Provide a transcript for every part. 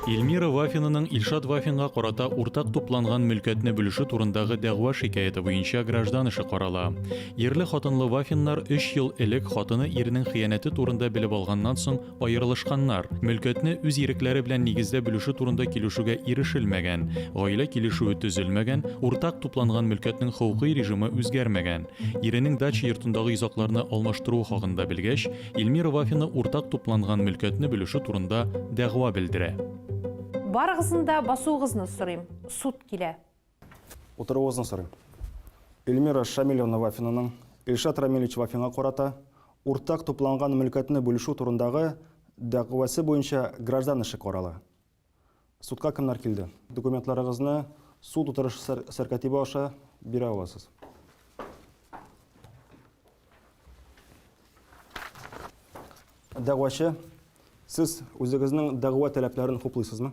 Эльмира Вафинаның Илшат Вафинга карата уртак тупланган мөлкәтне бүлеше турындагы дәгъва шикаяте буенча граждан эше карала. Ерле хатынлы Вафиннар 3 ел элек хатыны иренең хыянәте турында белеп алганнан соң Аерылышканнар, мөлкәтне үз ирекләре белән нигездә бүлешү турында килешүгә ирешелмәгән, гаилә килешүе төзелмәгән, уртак тупланган мөлкәтнең хокукый режимы үзгәрмәгән. Иренең дача йортындагы йозакларны алмаштыруы хакында белгәч, Ильмира Вафина уртак тупланган мөлкәтне бүлешү турында дәгъва белдерә. Барыгызны да басуыгызны сорыйм. Суд килә. Утыруыгызны сорыйм. Эльмира Шамилевна Вафинаның Илшат Рамилевич Вафинга карата уртак тупланган мөлкәтне бүлешү турындагы дәгъвасы буенча граждан эше карала. Судка кемнәр килде? Документларыгызны суд утырышы сәркәтибе аша бирә аласыз. Дәгъвачы, сез үзегезнең дәгъва таләпләрен хуплыйсызмы?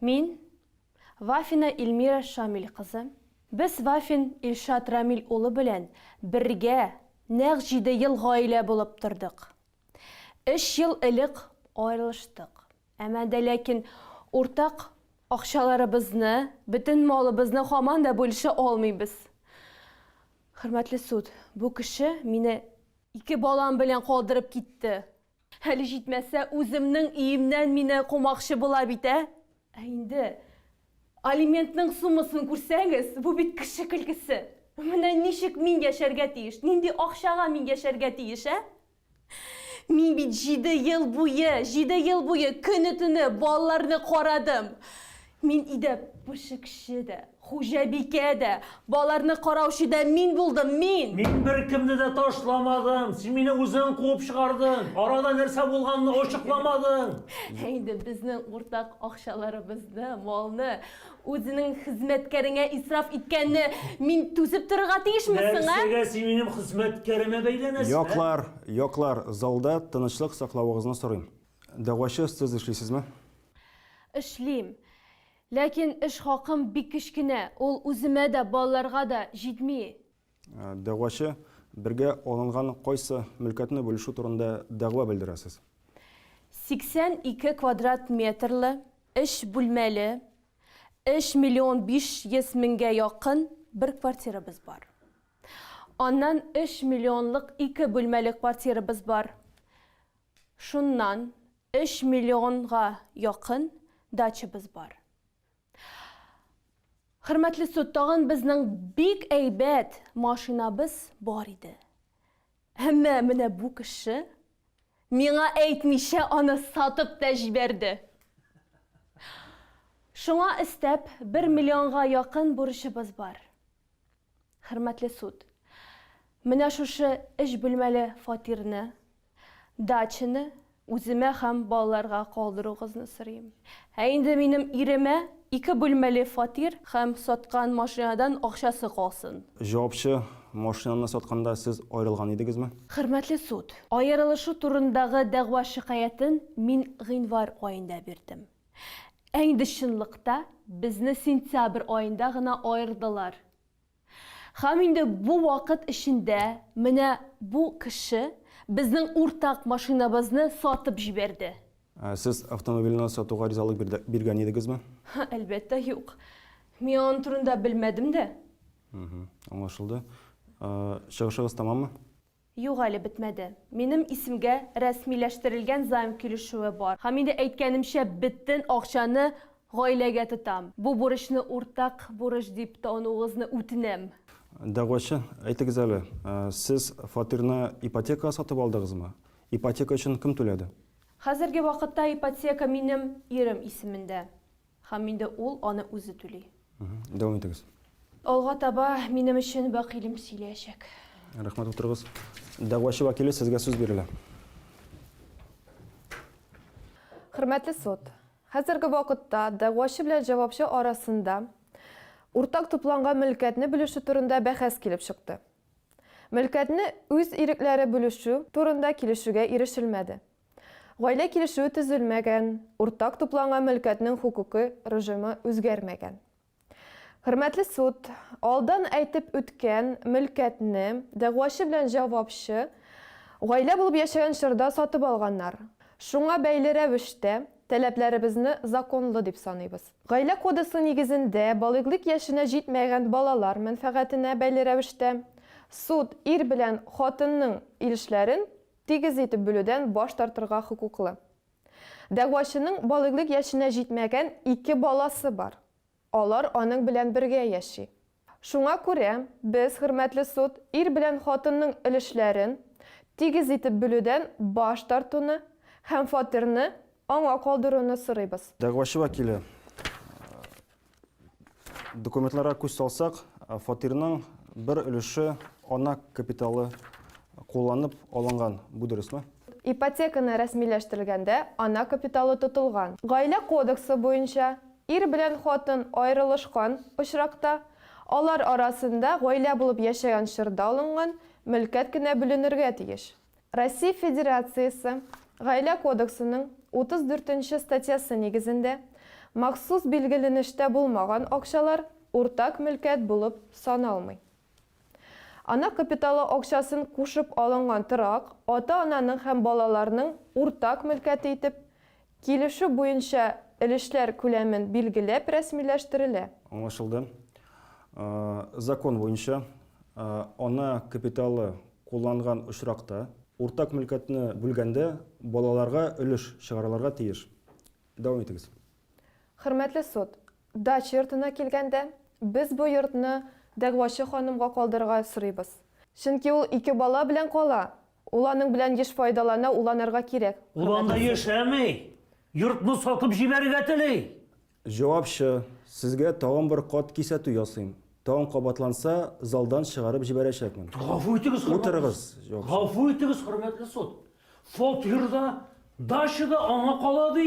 Мин, Вафина Ильмира Шамиль кызы. Без Вафин Илшат Рамиль улы белән бергә нәкъ җиде ел гаилә булып тордык. Өч ел элек аерылыштык. Әмма дә ләкин уртак акчаларыбызны, бөтен малыбызны һаман да бүлешә алмыйбыз. Хөрмәтле суд, бу кеше мине ике балам белән калдырып китте. Хәле җитмәсә, үземнең өемнән мине кумакчы була бит, ә? Ә инде алиментның суммасын күрсәгез, бу бит кеше көлкесе! Менә ничек мин яшәргә тиеш, нинди акчага мин яшәргә тиеш, ә? Мин бит җиде ел буе, җиде ел буе көне-төне балаларны карадым. Мин идем, пешекче дә, хуҗабикә дә, баларны караучы да мин булдым, мин! Мин беркемне дә ташламадым, син мине үзең куып чыгардың, арада нәрсә булганны ачыкламадың. Ә инде безнең уртак акчаларыбызны, малны үзенең хезмәткәреңә исраф иткәнне мин түзеп торырга тиешме соң, ә? Нәрсәгә син минем хезмәткәремә бәйләнәсең, ә? Яклар, яклар, залда тынычлык саклавыгызны сорыйм. Дәгъвачы остяз эшлисезме? Эшлим. Ләкин эш хакым бик кечкенә, ул үземә дә, балаларга да җитми. Дәгъвачы, Бергә алынган кайсы мөлкәтне бүлешү турында дәгъва белдерәсез? 82 квадрат метрлы, өч бүлмәле, өч миллион биш йөз меңгә якын бер квартирабыз бар. Аннан өч миллионлык ике бүлмәле квартирабыз бар. Шуннан өч миллионга якын дачабыз бар. Хөрмәтле суд, тагын безнең бик әйбәт машинабыз бар иде. Әмма менә бу кеше миңа әйтмичә аны сатып та җибәрде. Шуңа өстәп, бер миллионга якын бурычыбыз бар. Хөрмәтле суд, менә шушы өч бүлмәле фатирны, дачаны үземә һәм балаларга калдыруыгызны сорыйм. Ә инде минем иремә ике бүлмәле фатир һәм саткан машинадан акчасы калсын. Җавапчы, машинаны сатканда сез аерылган идегезме? Хөрмәтле суд, аерылышу турындагы дәгъва-шикаятен мин гыйнвар аенда бирдем. Ә инде чынлыкта безне сентябрь аенда гына аердылар. Һәм инде бу вакыт эчендә менә бу кеше безнең уртак машинабызны сатып җибәрде. Ә сез автомобильне сатуга ризалык биргән идегезме? Әлбәттә, юк. Мин аның турында белмәдем дә. Аңлашылды. Чыгышыгыз тәмаммы? Юк әле бетмәде. Минем исемгә рәсмиләштерелгән займ килешүе бар. Һәм инде әйткәнемчә, бөтен акчаны гаиләгә тотам. Бу бурычны уртак бурыч дип тануыгызны үтенәм. Дәгъвачы, әйтегез әле, сез фатирны ипотекага сатып алдыгызмы? Ипотека өчен кем түләде? Хәзерге вакытта ипотека минем ирем исемендә. Һәм инде ул аны үзе түли. Дәвам итегез. Алга таба минем өчен вәкилем сөйләячәк. Рәхмәт, утырыгыз. Дәгъвачы вәкиле, сезгә сүз бирелә. Хөрмәтле суд, хәзерге вакытта дәгъвачы белән җавапчы арасында уртак тупланган мөлкәтне бүлешү турында бәхәс килеп чыкты. Мөлкәтне үз ирекләре бүлешү турында килешүгә ирешелмәде. Гаилә килешүе төзелмәгән, уртак тупланган мөлкәтнең хокукый режимы үзгәрмәгән. Хөрмәтле суд, алдан әйтеп үткән мөлкәтне дәгъвачы белән җавапчы гаилә булып яшәгән чорда сатып алганнар. Шуңа бәйле рәвештә, таләпләребезне законлы дип саныйбыз. Гаилә кодексы нигезендә балигълик яшенә җитмәгән балалар мәнфәгатенә бәйле рәвештә, суд ир белән хатынның өлешләрен Тигез итеп бүлүдән баш тартырга хокуклы. Дәгъвачының балигълек яшенә җитмәгән ике баласы бар. Алар аның белән бергә яши. Шуңа күрә без, хөрмәтле суд, ир белән хатынның өлешләрен тигез итеп бүлүдән баш тартуны һәм фатирны аңа калдыруны сорыйбыз. Дәгъвачы вәкиле, Документларга күз салсак, фатирның бер өлеше ана капиталы кулланып алынган. Бу дөресме? Ипотеканы рәсмиләштерелгәндә ана капиталы тотылган. Гаилә кодексы буенча, ир белән хатын аерылышкан очракта, алар арасында гаилә булып яшәгән чорда алынган мөлкәт кенә бүленергә тиеш. Россия Федерациясе Гаилә кодексының 34 нче статьясы нигезендә махсус билгеленештә булмаган акчалар уртак мөлкәт булып саналмый. Ана капиталы акчасын кушып алынган торак ата-ананың һәм балаларның уртак мөлкәте итеп Килешү буенча өлешләр күләмен билгеләп рәсмиләштерелә. Аңлашылды. Закон буенча, ана капиталы кулланган очракта, уртак мөлкәтне бүлгәндә балаларга өлеш чыгарылырга тиеш. Дәвам итегез. Хөрмәтле суд, дача йортына килгәндә, без бу йортны дәгъвачы ханымга калдырырга сорыйбыз. Чөнки ул ике бала белән кала, Ул аның белән еш файдалана, уланырга кирәк. Ул анда яшәми, йортны сатып җибәрергә тели. Җавапчы, Сезгә тагын бер кат кисәтү ясыйм. Тагын кабатланса, залдан чыгарып җибәрәчәкмен. Гафу итегез, хөрмәтле. Утырыгыз, җавапчы. Гафу итегез, хөрмәтле суд. Фатир да, дача да аңа кала, ди.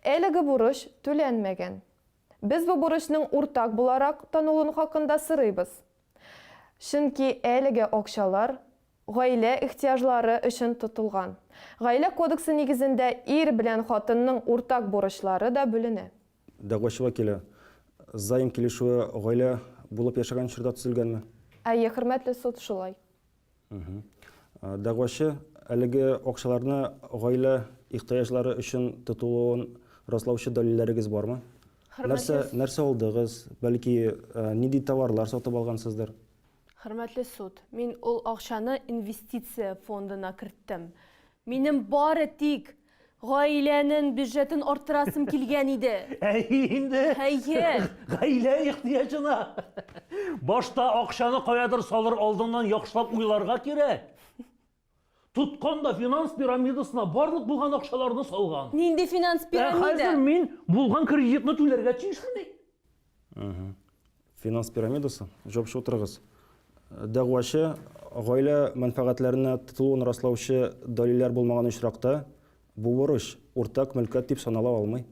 Әлеге бурыч түләнмәгән. Без бу бурычның уртак буларак танылуын хакында сырыйбыз. Чөнки әлеге акчалар гаилә ихтыяҗлары өчен тотылган. Гаилә кодексы нигезендә ир белән хатынның уртак бурычлары да бүленә. Дәгъвачы вәкиле, Займ килешүе гаилә булып яшәгән чорда төзелгәнме? Әйе, хөрмәтле суд, шулай. Дәгъвачы әлеге акчаларны гаилә ихтыяҗлары өчен тотылуын раслаучы дәлилләрегез бармы? Нәрсә, нәрсә алдыгыз? Бәлки, нинди товарлар сатып алгансыздыр? Хөрмәтле суд, мин ул акчаны инвестиция фондына керттем. Минем бары тик гаиләнең бюджетын арттырасым килгән иде. Әйе инде. Әйе. Гаилә ихтыяҗына. Башта акчаны каядыр салыр алдыннан яхшылап уйларга кирәк. Тоткан да финанс пирамидасына барлык булган акчаларны салган. Нинди финанс пирамида? Ә хәзер мин булган кредитны түләргә тиешмени? Финанс пирамидасы, җавапчы утырыгыз. Дәгъвачы гаилә мәнфәгатьләренә тотылуын раслаучы дәлилләр булмаган очракта, бу бурыч уртак мөлкәт дип санала алмый.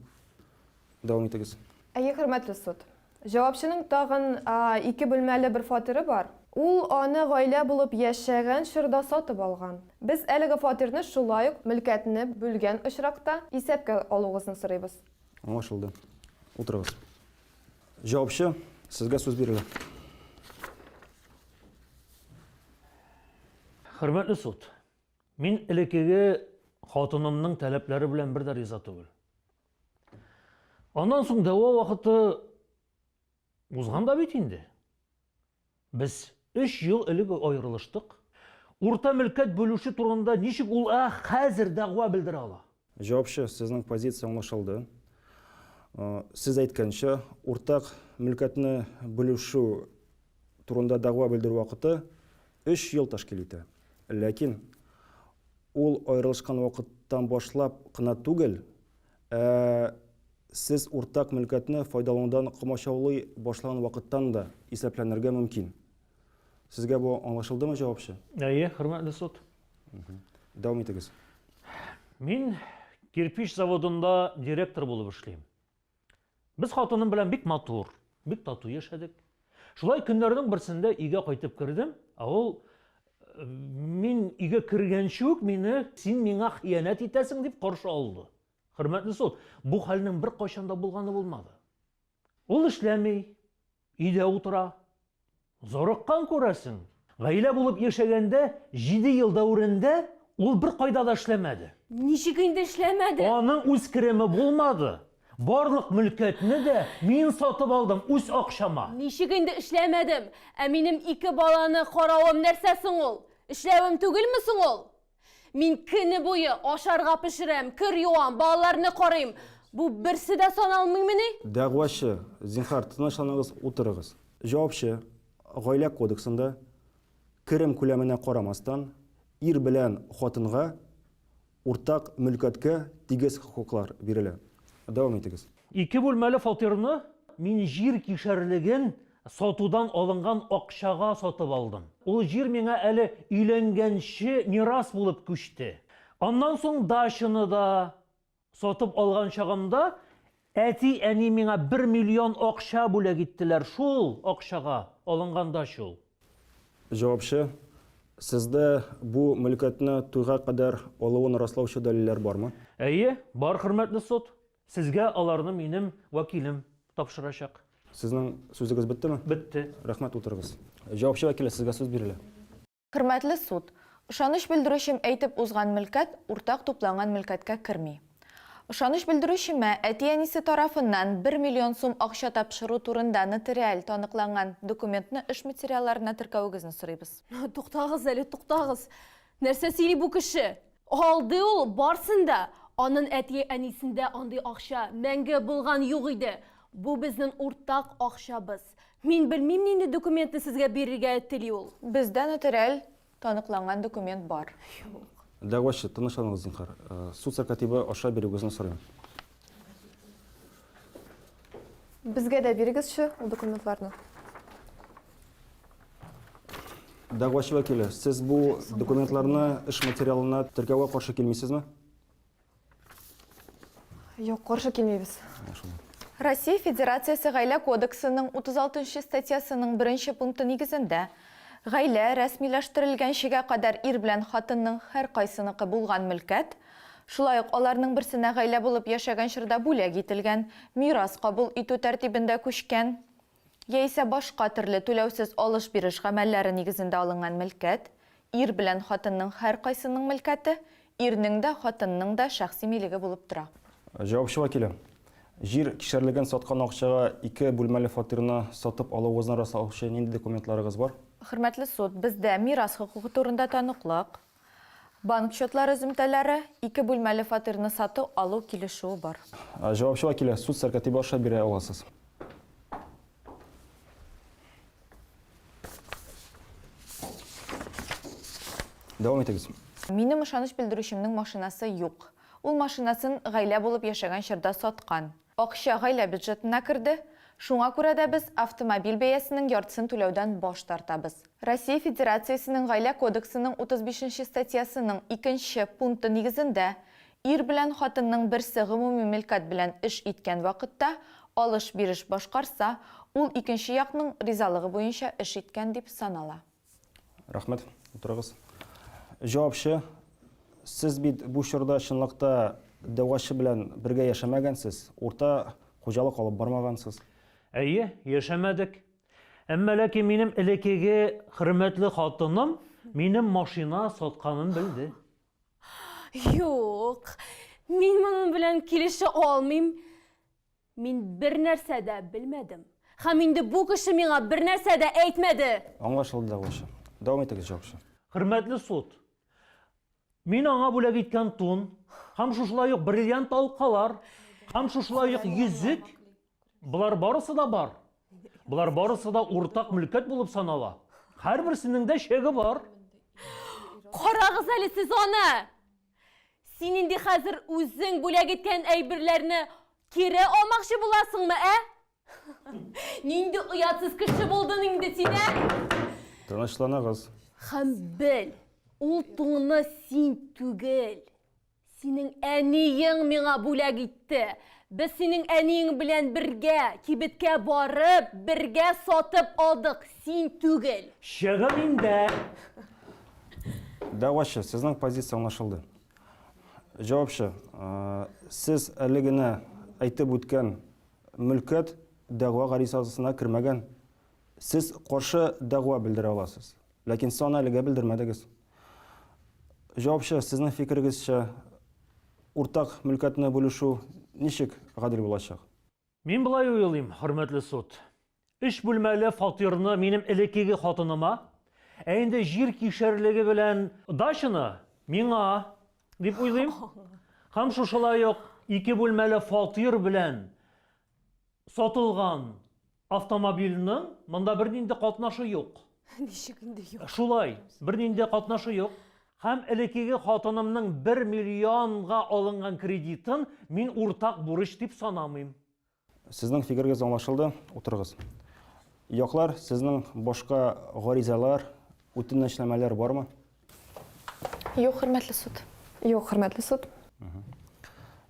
Дәвам итегез. Әйе, хөрмәтле суд. Җавапчының тагын ике бүлмәле бер фатиры бар. Ул аны гаилә булып яшәгән чорда сатып алган. Без әлеге фатирны шулай ук мөлкәтне бүлгән очракта исәпкә алуыгызны сорыйбыз. Аңлашылды. Утырыгыз. Җавапчы, сезгә сүз бирелә. Хөрмәтле суд, мин элеккеге хатынымның таләпләре белән бер дә риза түгел. Аннан соң дәва вакыты Узган да бит инде. Без өч ел элек аерылыштык. Урта мөлкәт бүлешү турында ничек ул ә хәзер дәгъва белдерә ала? Җавапчы, сезнең позиция аңлашылды. Сез әйткәнчә, уртак мөлкәтне бүлешү турында дәгъва белдерү вакыты өч ел тәшкил итә. Ләкин ул аерылышкан вакыттан башлап кына түгел, ә Сез уртак мөлкәтне файдаланудан комачаулый башлаган вакыттан да исәпләнергә мөмкин. Сезгә бу аңлашылдымы, җавапчы? Әйе, хөрмәтле суд. Дәвам итегез. Мин кирпич заводында директор булып эшлим. Без хатыным белән бик матур, бик тату яшәдек. Шулай көннәрнең берсендә өйгә кайтып кердем, ә ул мин өйгә кергәнче үк мине син миңа хыянәт итәсең дип каршы алды. Хөрмәтле суд, бу хәлнең беркайчан да булганы булмады. Ул эшләми, өйдә утыра. Зарыккан күрәсең. Гаилә булып яшәгәндә, җиде ел дәверендә ул беркайда да эшләмәде. Ничек инде эшләмәде? Аның үз кереме булмады. Барлык мөлкәтне дә мин сатып алдым үз акчама. Ничек инде эшләмәдем? Ә минем ике баланы каравым нәрсә соң ул? Эшләвем түгелме соң ул? Мин көне буе ашарга пешерәм, кер юам, балаларны карыйм. Бу берсе дә саналмыймыни? Дәгъвачы, зинһар, тынычланыгыз, утырыгыз. Җавапчы, Гаилә кодексында, керем күләменә карамастан, ир белән хатынга уртак мөлкәткә тигез хокуклар бирелә. Дәвам итегез. Ике бүлмәле фатирны мин җир кишәрлеген Сатудан алынган акчага сатып алдым. Ул җир миңа әле өйләнгәнче мирас булып күчте. Аннан соң дачаны да сатып алган чагымда әти-әни миңа бер миллион акча бүләк иттеләр, шул акчага алынган дача ул. Җавапчы, Сездә бу мөлкәтне туйга кадәр алуын раслаучы дәлилләр бармы? Әйе, бар, хөрмәтле суд. Сезгә аларны минем вәкилем тапшырачак. Сезнең сүзегез беттеме? Бетте. Рәхмәт, утырыгыз. Җавапчы вәкиле, сезгә сүз бирелә. Хөрмәтле суд, ышаныч белдерүчем әйтеп узган мөлкәт уртак тупланган мөлкәткә керми. Ышаныч белдерүчемә әти-әнисе тарафыннан бер миллион сум акча тапшыру турында нотариаль таныкланган документны эш материалларына теркәвегезне сорыйбыз. Туктагыз әле, туктагыз! Нәрсә сөйли бу кеше? Алды ул барсын да! Анын әтие әнисендә андый акча мәңге булган юк иде! Бу безнен уртак акчабыз! Мин белмим нинди документны сезгә бирергә тели ул! Бездә нотариаль таныкланган документ бар. Юк. Дәгъвачы, тынычланыгыз зинһар. Суд сәркатибы аша бирүгезне сорыйм. Безгә дә бирегезче ул документларны. Дәгъвачы вәкиле, сез бу документларны эш материалына теркәүгә каршы килмисезме? Юк, каршы килмибез. Россия Федерациясе Гаилә кодексының 36 статьясының беренче пункты нигезендә, гаилә рәсмиләштерелгәнчегә кадәр ир белән хатынның һәркайсыныкы булган мөлкәт, шулай ук аларның берсенә гаилә булып яшәгән чорда бүләк ителгән мирас кабул итү тәртибендә күчкән, яисә башка төрле түләүсез алыш-биреш гамәлләре нигезендә алынган мөлкәт, ир белән хатынның һәркайсының мөлкәте, ирнең дә, хатынның да шәхси милеге булып тора. Җавапчы вәкиле. Җир кишәрлеген саткан акчага ике бүлмәле фатирны сатып алуыгызны раслаучы нинди документларыгыз бар? Хөрмәтле суд, бездә мирас хокукы турында таныклык, Банк счетлар өземтәләре, ике бүлмәле фатирны сату алу килешүе бар. Җавапчыга килә, суд сәркатибе аша бирә аласыз. Дәвам итегез. Минем ышаныч белдерүчемнең машинасы юк. Ул машинасын гаилә булып яшәгән чорда саткан. Акча гаилә бюджетына керде, шуңа күрә дә без автомобиль бәясенең яртысын түләүдән баш тартабыз. Россия Федерациясенең Гаилә кодексының 35 нче статьясының икенче пункты нигезендә, ир белән хатынның берсе гомуми милкать белән эш иткән вакытта алыш-биреш башкарса, ул икенче якның ризалыгы буенча эш иткән дип санала. Рәхмәт. Утырыгыз. Җавапчы, сез бит бу чорда чынлыкта дәвачы белән бергә яшәмәгәнсез, урта хуҗалык алып бармагансыз. Әйе, яшәмәдек. Әмма ләкин минем элекеге хөрмәтле хатыным минем машина сатканын белде. Юк, мин моның белән килешә алмыйм. Мин бернәрсә дә белмәдем. Һәм инде бу кеше миңа бернәрсә дә әйтмәде! Аңлашылды, дәгъвачы. Дәвам итегез, җавапчы. Хөрмәтле суд, мин аңа бүләк иткән тун һәм шушылай ук бриллиант алкалар һәм шушылай ук йөзек, болар барысы да бар. Болар барысы да уртак мөлкәт булып санала. Һәрберсенең дә чеге бар. Карагыз әле сез аны! Син инде хәзер үзең бүләк иткән әйберләрне кире алмакчы буласыңмы, ә? Нинди оятсыз кеше булдың инде син, ә? Тынычланыгыз. Хәм бел, ул туңны син түгел. Синең әниең миңа бүләк итте. Без синең әниең белән бергә кибеткә барып, бергә сатып алдык, син түгел. Чыгын инде! Дәгъвачы, сезнең позиция аңлашылды. Җавапчы, сез әле генә әйтеп үткән мөлкәт дәгъва гаризасына кермәгән. Сез каршы дәгъва белдерә аласыз. Ләкин сез аны әлегә белдермәдегез. Җавапчы, сезнең фикерегезчә, уртак мөлкәтне бүлешү ничек гадел булачак? Мин болай уйлыйм, хөрмәтле суд. Өч бүлмәле фатирны минем элеккеге хатыныма, ә инде җир кишәрлеге белән дачаны миңа дип уйлыйм. Һәм шушылай ук ике бүлмәле фатир белән сатылган автомобильның монда бернинди катнашы юк. Ничек инде юк? Шулай, бернинди катнашы юк. Һәм элекеге хатынымның бер миллионга алынган кредитын мин уртак бурыч дип санамыйм. Сезнең фикерегез аңлашылды, утырыгыз. Яклар, сезнең башка гаризалар, үтенәчнамәләр бармы? Юк, хөрмәтле суд. Юк, хөрмәтле суд.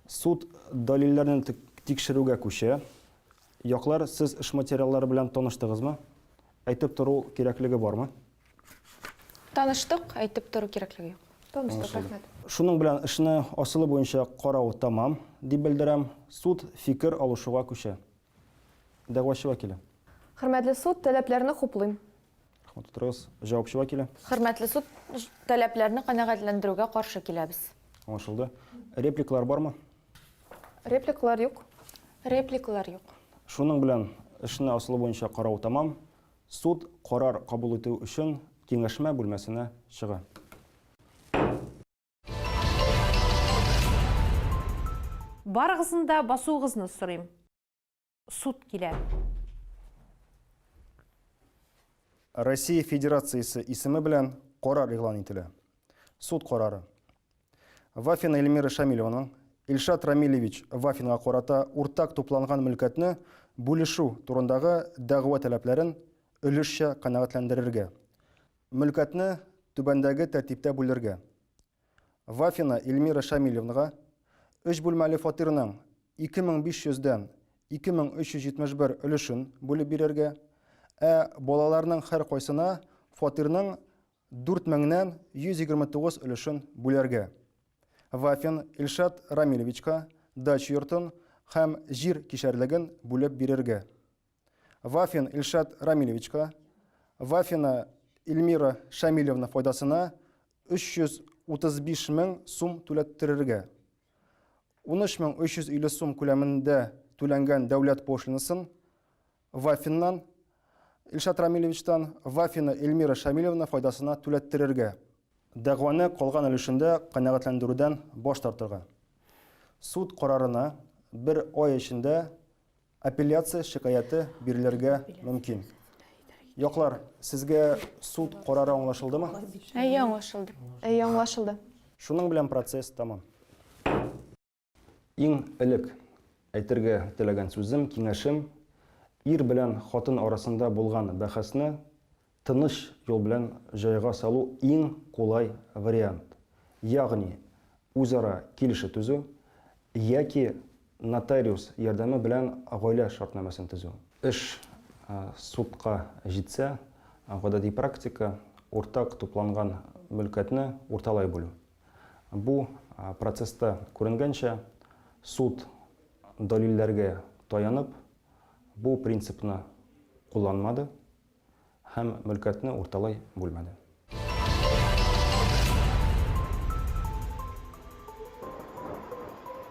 Суд дәлилләрне тикшерүгә күчә. Яклар, сез эш материаллары белән таныштыгызмы? Әйтеп тору кирәклеге бармы? Таныштык, әйтеп тору кирәклеге юк. Таныштык, рәхмәт. Шуның белән эшне асылы буенча карау тәмам, дип белдерәм. Суд фикер алышуга күчә. Дәгъвачы вәкиле. Хөрмәтле суд, таләпләрне хуплыйм. Рәхмәт, утырыгыз. Җавапчы вәкиле. Хөрмәтле суд, таләпләрне канәгатьләндерүгә каршы киләбез. Аңлашылды. Репликалар бармы? Репликалар юк. Репликалар юк. Шуның белән эшне асылы буенча карау тәмам. Суд карар кабул итү өчен киңәшмә бүлмәсенә чыга. Барыгызны да басуыгызны сорыйм. Суд килә. Россия Федерациясе исеме белән карар игълан ителә. Суд карары. Вафина Эльмира Шамилеваның Илшат Рамилевич Вафинга карата уртак тупланган мөлкәтне бүлешү турындагы дәгъва таләпләрен өлешчә канәгатьләндерергә. Мөлкәтне түбәндәге тәртиптә бүлергә. Вафина Эльмира Шамилевнга өч бүлмәле фатирның 2500 дән 2371 өлешен бүлеп бирергә, ә балаларның һәркайсына фатирның Дүрт меңнән 129 өлешен бүләргә. Вафин Илшат Рамилевичка дача йортын һәм җир кишәрлеген бүлеп бирергә. Вафин Илшат Рамилевичка Вафина Ильмира Шамилевна файдасына 335 мең сум түләттерергә. 13350 сум күләмендә түләнгән дәүләт пошлинасын Вафиннан, Илшат Рамилевичтан, Вафина Эльмира Шамилевна файдасына түләттерергә. Дәгъваны калган өлешендә канәгатьләндерүдән баш тартырга. Суд карарына бер ай эчендә апелляция шикаяте бирелергә мөмкин. Яклар, сезгә суд карары аңлашылдымы? Әйе, аңлашылды. Әйе, аңлашылды. Шуның белән процесс тәмам. Иң элек әйтергә теләгән сүзем, киңәшем, ир белән хатын арасында булган бәхәсне тыныч юл белән җайга салу иң кулай вариант. Ягъни, үзара килешү төзү яки нотариус ярдәме белән гаилә шартнамәсен төзү. Эш судка җитсә, гадәти практика, уртак тупланган мөлкәтне урталай бүлү. Бу процесста күренгәнчә, суд дәлилләргә таянып, бу принципны кулланмады һәм мөлкәтне урталай бүлмәде.